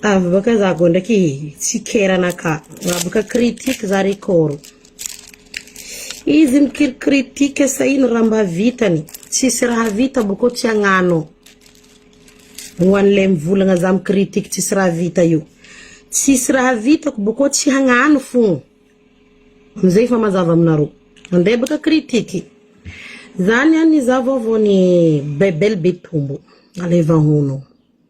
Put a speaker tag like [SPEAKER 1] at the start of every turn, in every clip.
[SPEAKER 1] Avy baka za go ndraiky tsikerana ka raha baka critique za re kôro izy mikiry critique sahiny raha mba vitany tsisy raha vita boko tsy agnano ho anle mivolagna za mi critique tsisy raha vita io tsisy raha vitako boko tsy hagnano fôgna amizay efa mazava aminareo mandeha baka critique zany any za vaovao ny bebel betombo aleva hono.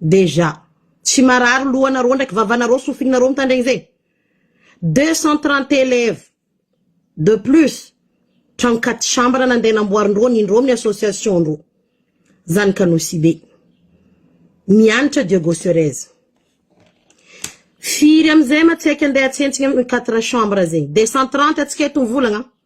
[SPEAKER 1] Déjà. Tsy marary lohanareo ndraiky vavanareo sofinareo mitandregny zay. Deux cent trente élèves de plus tragno quatre chambres nandeha namboarindreo ny indreo amin'ny association ndreo. Zany ka Nosibe. Mianatra Diego Surez. Firy amizay ma tsy haika ndeha atsentsina amin'ny quatre chambres zegny. Deux cent trente atsika eto mivolagna an.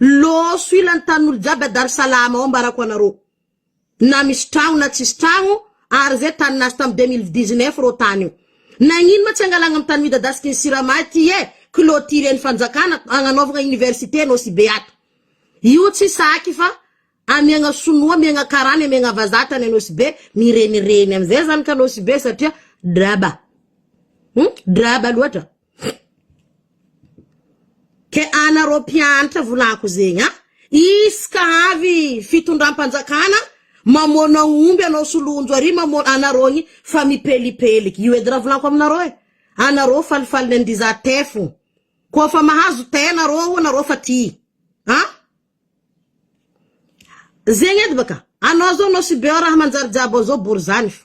[SPEAKER 1] Loso ila ny tanin'olo jiaby a Dar Salaam ao ambarako anareo na misy tragno na tsisy tragno ary zay tany nazo tam deux mille dix neuf reo tany io nagnino ma tsy angalagna am tany midadasiky ny sirama aty e clotire ny fanjakana agnanaovagna université no sibe ato io tsy saky fa amiagna sonoa amiagna karana amiagna vazah tany anosibe mirenireny amizay zany ka nosibe satria draba draba loatra. Ke anareo mpiantra volako zegny a! Izy ka avy fitondram-panjakana mamoana omby anao sy lonjo ary mamoana anareo ny fa mipelipeliky. Io edy raha volako aminareo e! Anareo falifaly ny andiza tey fo. Koa fa mahazo tey nareo o nareo fa ty a! Zegny edy baka! Anao zao anao sy beo raha manjary jiaby ao zao bory zany fa.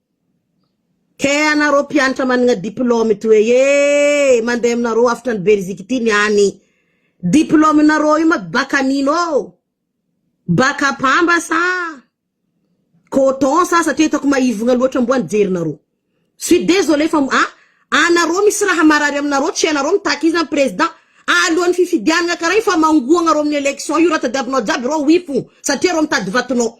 [SPEAKER 1] Kay anareo mpianatra managna diplôme ito e ee mandeha aminareo avotra any Belgique ity ny any diplôme nareo io ma bac anino oo? Bac à pamba sa coton sa satria itako maivogna loatra mboany jerinareo suis désolé fa a anareo misy raha marary aminareo tsy anareo mitaky izy na président alohan'ny fifidianagna kara io fa mangoagna reo amin'ny élection io raha tadiavinao jiaby reo oui fo satria reo mitady vatonao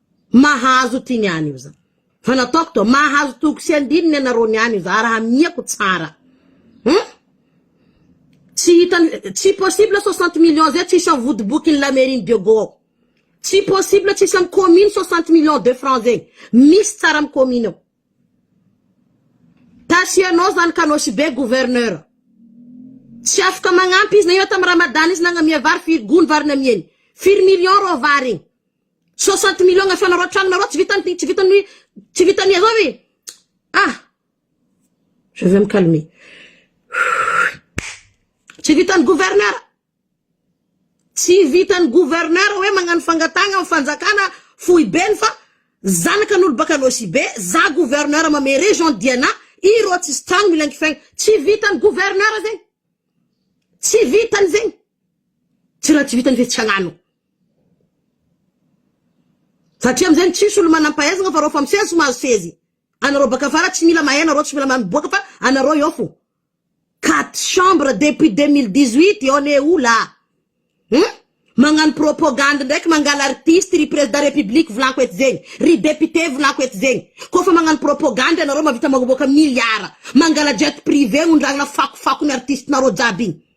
[SPEAKER 1] Mahazo tiny any io za. Fa nataoko to mahazo toko sy andininy ianareo ny any io za raha hamihako tsara. Hum? Tsy hitany tsy possible 60 millions zay tsisy am vodibokin'ny la mairie ny Dieugo ao. Tsy possible tsisy am commune 60 millions de francs zegny. Misy tsara am commune ao. Tasianao zany ka anao sy be gouverneur. Tsy afaka magnampy izy na ino tam Ramadan izy nagnamia vary firy gony vary namiany. Firy millions rô vary igny. Soixante millions ifanarao trano nareo tsy vitan'ny tsy vitan'ny tsy vitan'ny azao ve ah je vais me calmer tsy vitan'ny gouverneur tsy vitan'ny gouverneur hoe magnano fangatagna amin'ny fanjakana foibeny fa zanaka an'olo baka Nosibe za gouverneur mame région Diana ireo tsisy trano mila ankifaigna tsy vitan'ny gouverneur zegny tsy vitany zegny Tsy raha tsy vitany ve tsy hagnano. Satria amizay no tsisy olo manampahaizagna fa reo fa misesy mahazo sezy. Anareo baka afara tsy mila mahay nareo tsy mila mahay miboaka fa anareo eo fô. Quatre chambres depuis deux mille dix huit on est où là? Hum? Magnano propagande ndraiky mangala artiste ry président république volako eto zegny, ry député volako eto zegny. Kô fa magnano propagande anareo mavita magnaboaka milliards. Mangala jet privé ondrahagna fakofako ny artiste nareo jiaby igny.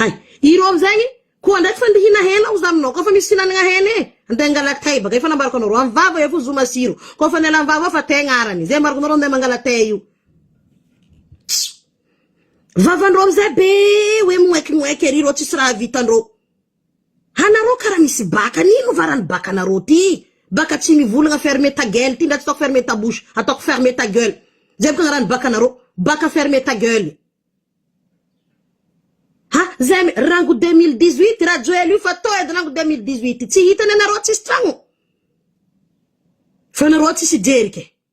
[SPEAKER 1] Hay, ireo amin'izay koa ndray tsy fandihina hena aho izany nao, koa fa misy fihinanana hena e, andeha hangalaka tay baka, efa nambarako anareo, amin'ny vava eo fo zo masiro, koa fa ny ala amin'ny vava fa tay agnarany, izay ambarako anareo andeha mangala tay io. Vavan-dreo amin'izay be hoe moekimoek ery reo tsisy raha vitan-dreo. Anareo kara misy baka an ino va ra ny baka nareo ty baka tsy mivolagna ferme ta gueule ty ndra tsy ataoko ferme ta bouche ataoko ferme ta gueule zay baka ra ny baka nareo baka ferme ta gueule ha zay me rango deux mille dix huit rajoely io fa to edy rango deux mille dix huit tsy hitany anareo tsisy tragno fa nareo tsisy jerika e.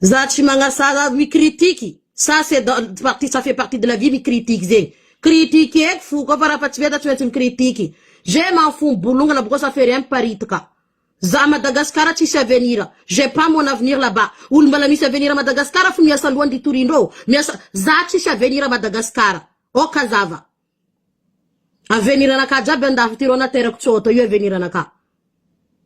[SPEAKER 1] Za tsy magnasara mi critique ça c'est dans partie ça fait partie de la vie mi critique zegny critiqueko fo koa fa raha fa tsy mety tsy maintsy mi critique je m'en fous mibolongana boko ça fait rien miparitaka za Madagascar tsisy avenir j'ai pas mon avenir là bas olo mbala misy avenir à Madagascar fo miasa loha ndry torindrô miasa za tsisy avenir à Madagascar ok zava. Avenir-na ka jiaby andafy ty reo na terako tsy ho atao io avenir-na ka.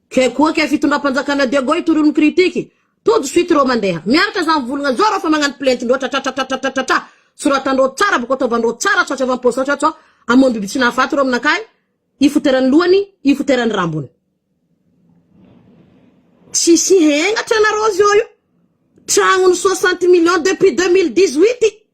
[SPEAKER 1] Ke koa ke fitondram-panjakana Diego io toroy mi-critique. To de suite reo mandeha. Miaritra zany volagna zao reo fa magnano plainte loatra tratratratratratratra. Soratandreo tsara boko ataovandreo tsara sao tsy avy am-paosao sao sao hamono biby tsy nahafaty reo aminakahy. Ifoterany lohany, ifoterany rambony. Tsisy hengatra nareo zao io. Tragnony soixante millions depuis deux mille dix-huit.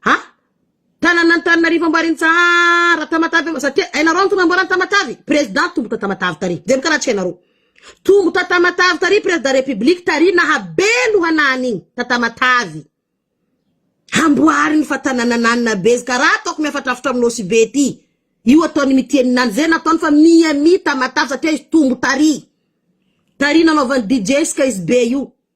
[SPEAKER 1] Ha? Tananan'Antananarivo Amboarintsara, Tamatave Amboa, satria hainareo antony namboarany Tamatave? Président tombo ta Tamatave tary, jereo karaha tsy hainareo. Tombo ta Tamatave tary Président République tary naha be lohana an'igny ta Tamatave. Hamboariny fa tananan'Anna be izy karaha ataoko mihafatrafatra amin'ny Nosy be ty. Io ataony mitia ny Nana, zay nataony fa Miami Tamatave satria izy tombo tary. Tary nanaovany DJ ska izy be io.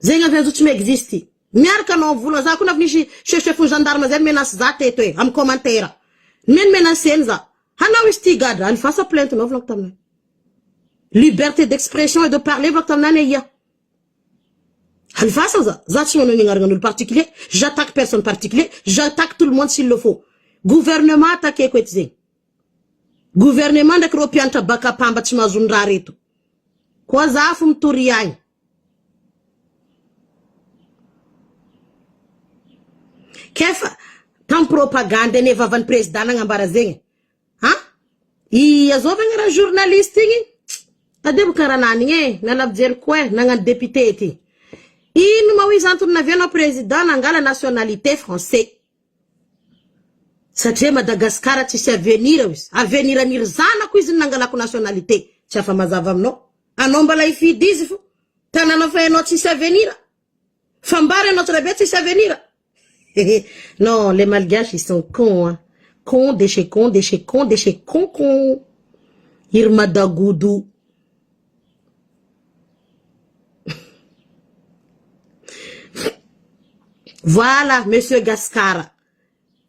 [SPEAKER 1] Zegny avy azo tsy mi existe. Miaraka anao vola za koa na avy nisy chef chef ny gendarme zay ni-menace za teto e am commentaire. Nme ni-menacer-ny za. Hanao izy ty gadra any vasa plainte nao volako taminay. Liberté d'expression et de parler volako taminay ne ia. Any vasa za. Za tsy manao ny agnaragnan'olo particulier. J'attaque personne particulier. J'attaque tout le monde s'il le faut. Gouvernement attaquer-ko eto zegny. Gouvernement ndraiky reo mpiantra baka pamba tsy mahazo ny raha reto koa za fo mitory agny. Kefa tam propagande ane vavan'ny prezida nagnambara zegny a! Ia zao vagna raha journaliste igny tadiavo kara nanigny e! Nala fijery koa e! Nagnano député ty! Ino ma hoizy antony navianao prezida nangala nationalité français? Satria Madagascar tsisy avenir ao izy. Avenir an' iry zanako izy no nangalako nationalité. Tsy afa mazava aminao. Anao mbala hifidy izy fo. Tanàna fa ianao tsisy avenir. Fambara ianao tsiraibe tsisy avenir. Hehe non les malgaches ils sont cons an. Con de chez con de chez con de chez con con. Iry madagodo. Voilà Monsieur Gascar,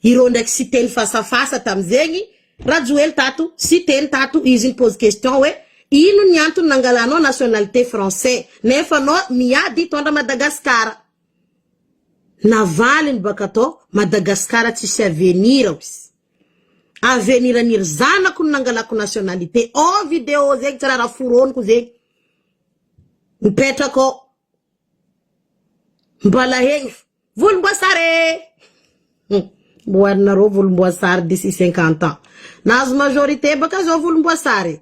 [SPEAKER 1] ireo ndraiky Siteny fasafasa tamzegny, Rajoely tato, Siteny tato, izy mi-pose question hoe ino ny antony nangalanao nationalité français nefa anao miady hitondra Madagascar. Navaliny bakatao, Madagascar tsisy avenir hozy. Avenir ny ry zanako no nangalako nationalité oh video zegny tsy raha raha foroniko zegny mipetraka ao mbala egny fo volomboasary eh hum mboarinareo volomboasary d'ici cinquante ans nahazo majorité baka zao volomboasary eh.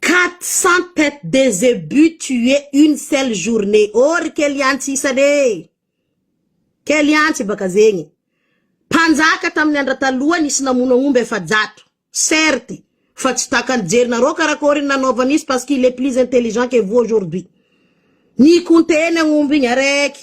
[SPEAKER 1] Quatre cent tete de zebus tuer une seule journee ô ry kely antsy isany e! Kely antsy baka zegny mpanjaka tamin'ny andra taloha nisy namono agn'omby efajato certes fa tsy takan'ny jerinareo karakory ny nanaovany izy parce qu'il est plus intelligent que vous aujourd'hui ni compter ny agn'omby igny araiky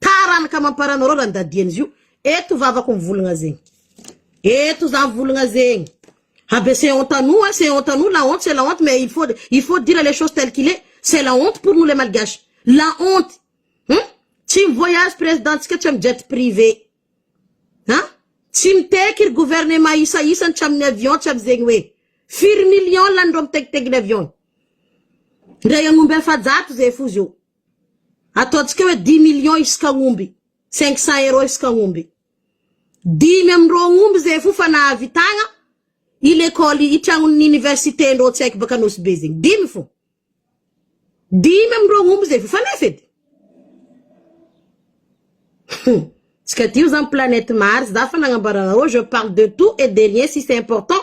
[SPEAKER 1] Taranaka amam-parany rora ny dadian'izy io. Eto vavako mivologna zegny. Eto za mivologna zegny. Habe c'est honte à nous hein, c'est honte à nous, la honte c'est la honte mais il faut il faut dire les choses telles qu'il est. C'est la honte pour nous les malgaches. La honte. Hum? Tsy mi-voyage président-tsika tsy am jet privé. Ha? Tsy miteky ry gouvernement isa isany tsy amin'ny avion tsy amin'izegny hoe firy millions lanin'ireo mitekitegny ny avion. Ndray agnomby efajato zay fo zio. Ataontsika hoe dix millions isaka omby, cinq cents euros isaka omby. Dimy amin-dro omby zay fo fa nahavitagna i lekôly i tragnon'ny universiten-drô tsy haiko baka Anosy Be zegny, dimy fo. Dimy amin-dro omby zay fo fa nefa edy. Hum, tsy kadio za am planète Mars za fa nagnambara anarô je parle de tout et de rien si c'est important.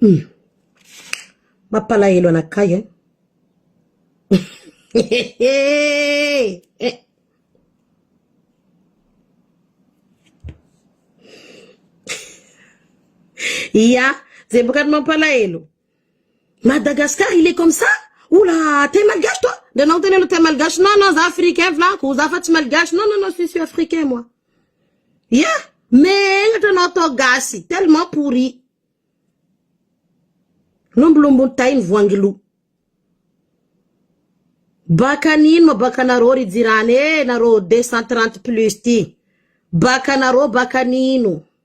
[SPEAKER 1] Humm mampalahelo anakahy an! hehehehehehe. Ia, zay bôka no mampalahelo. Madagascar il est comme ça ou la terre malgache toi de non tena le terre malgache non non za africain volako za fa tsy malgache non non non je suis africain moi ya megnatra anao atao gasy tellement pourri lombolombony tay ny voangiloha baka nino ma baka nareo ry jirany eh nareo deux cent trente plus ty baka nareo baka nino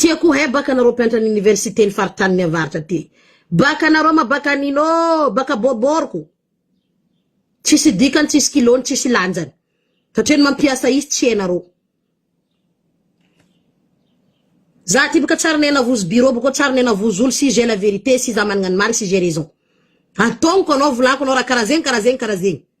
[SPEAKER 1] Tiako ho hay baka anareo mpiantra ny université ny faritany ny avaratra aty. Baka anareo ma baka anino oo baka bôbôrko. Tsisy dikany tsisy kilony tsisy lanjany. Satria ny mampiasa izy tsy enareo. Za aty baka tsary nenavozo bureau bako tsary nenavozo olo si j'ai la vérité si za managna ny marigny si j'ai raison. Antognoko anao volako anao raha karaha zegny karaha zegny karaha zegny.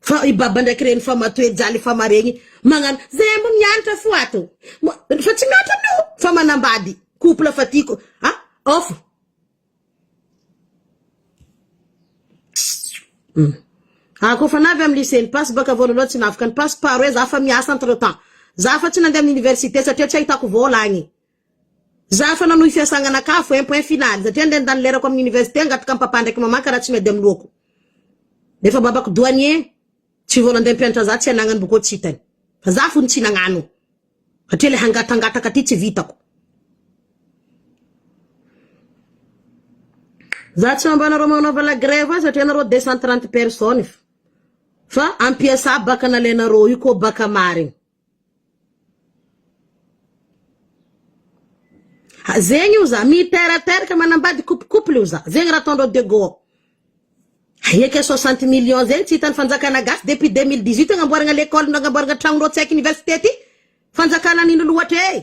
[SPEAKER 1] Fa i baba ndraiky reny fa matoe jaly fa maregny magnano zay ambo mianatra fo ato fa tsy mianatra aminao fa manambady couple fa tiako a off ah ko fa navy am lycée ny pasy baka voalohany tsy navoka ny pasy paro hoe za fa miasa entre temps za fa tsy nande am université satria tsy ahitako vola agny Za efa nanohy fiasanganakafo eh point final satria nde nandany lerako aminy université angato ka papa ndraiky maman ka raha tsy miady aminy lohako nefa babako douanier tsy vao nande mpianatra za tsy anagnany boko tsy hitany fa za fony tsy nagnano satria le hangatangataka ty tsy vitako za tsy mba nareo manaova la grève ah satria nareo deux cent trente personnes fa ampiasa baka nalenareo io ko baka marigny. Ha, zegny io za, miteraka manambady couple couple io za, zegny raha ataondreo de go ao. Aia kay soixante millions zegny tsy hitan'ny fanjakana gasy depuis deux mille dix huit agnamboaragna lekôly nagnamboaragna tragnondreo tsy aiko université ty, fanjakana nino loatra ee.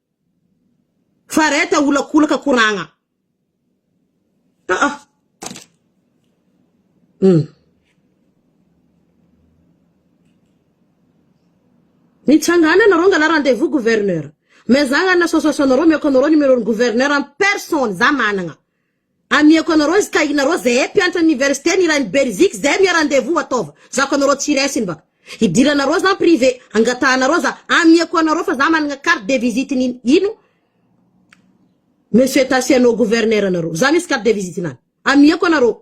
[SPEAKER 1] Fareta olakolaka koragna aa umm. Mitsangana nareo angalah rendez vous gouverneur mezahana association nareo ameko anareo numéro ny gouverneur en personne za managna Amiako anareo izy ka inareo zehey mpiantra université ny iray ny belgique zehey mia rendez-vous ataova zako anareo tsy iray siny baka hidiranareo za privé angatahanareo za amiako anareo fa za managna carte de visite ny ino monsieur tasiano gouverneur anareo za misy carte de visite nany amiako anareo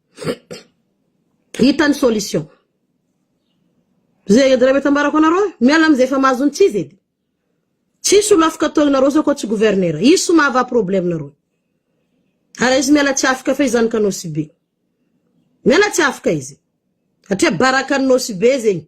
[SPEAKER 1] Hita ny solution. Zay adala mety ambarako anareo e. Miala amzay efa mahazo ny tsizy edy. Tsisy olo afaka atao anareo zao koa tsy gouverneur. Izy sy mahavaha problème nareo. Ary izy miala tsy afaka fa izy zany ka nosibe. Miala tsy afaka izy. Satria baraka ny nosibe zegny.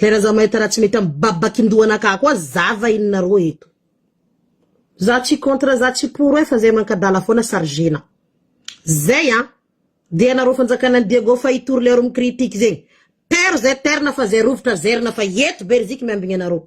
[SPEAKER 1] Zay raha za mahita raha tsy mety am babakindohanakah koa zava inona rô eto. Za tsy contre za tsy pour e fa zay mankadala foana chargena zay an de anareo fanjakana ny Diego fa hitory le aro mi critique zegny per zay terna fa zay rovitra zerina fa eto beriziky miambigny anareo.